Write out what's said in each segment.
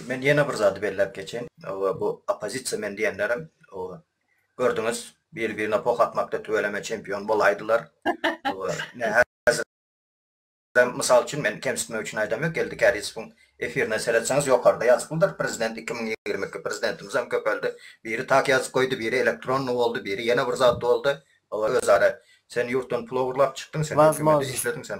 Men ýene bir zady belläp geçeýin. Bu oppozisiýa men diýenlerim gördüňiz, biri-birine poh atmakda tüweleme çempion bolaýdylar. Häzirem mysal üçin men kemsitmek üçin aýdam ýok, Geldi Kärizowyň efirine seretseňiz ýokarda ýazyklydyr, prezident iki müň ýigrimi iki, prezidentimizem köpeldi. Biri tak ýazyp goýdy, biri elektronny boldy, biri ýene bir zat boldy. Özara sen ýurtdan pul ogurlap çykdyň, sen hökümede işlediň, sen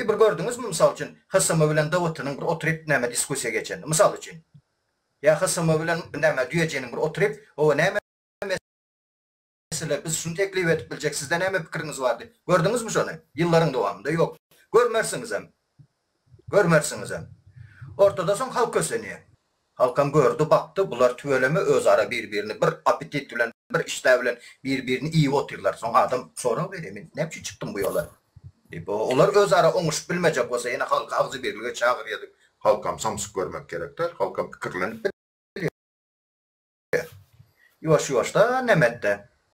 Bir gördüňizmi, mysal üçin, HSM bilen DWT-niň bir oturyp näme diskussiýa geçenini, mysal üçin? Ýa HSM bilen, näme, Düýejiniň bir oturyp, Hawa, näme mesele, biz şuny teklip edip biljek, sizde näme pikiriňiz bar diýip, gördüňizmi şony? Ýyllaryň dowamynda ýok. Görmersiňizem. Görmersiňizem. Ortada soň halk kösenýär. Halkam gördi, bakdy, bular tüweleme özara bir-birini bir apetit bilen, bir işdä bilen bir-birini iýip otyrlar. Soň adam sorag berýär, Men näme üçin çykdym bu ýola? diýip. Olar özara oňuşyp bilmejek bolsa, ýene halky agzybirlige çagyrýar diýip. Halkam samsyk görmek gerek-de, halkam pikirlenip bilýär. Ýuwaş-ýuwaşdan Nemetde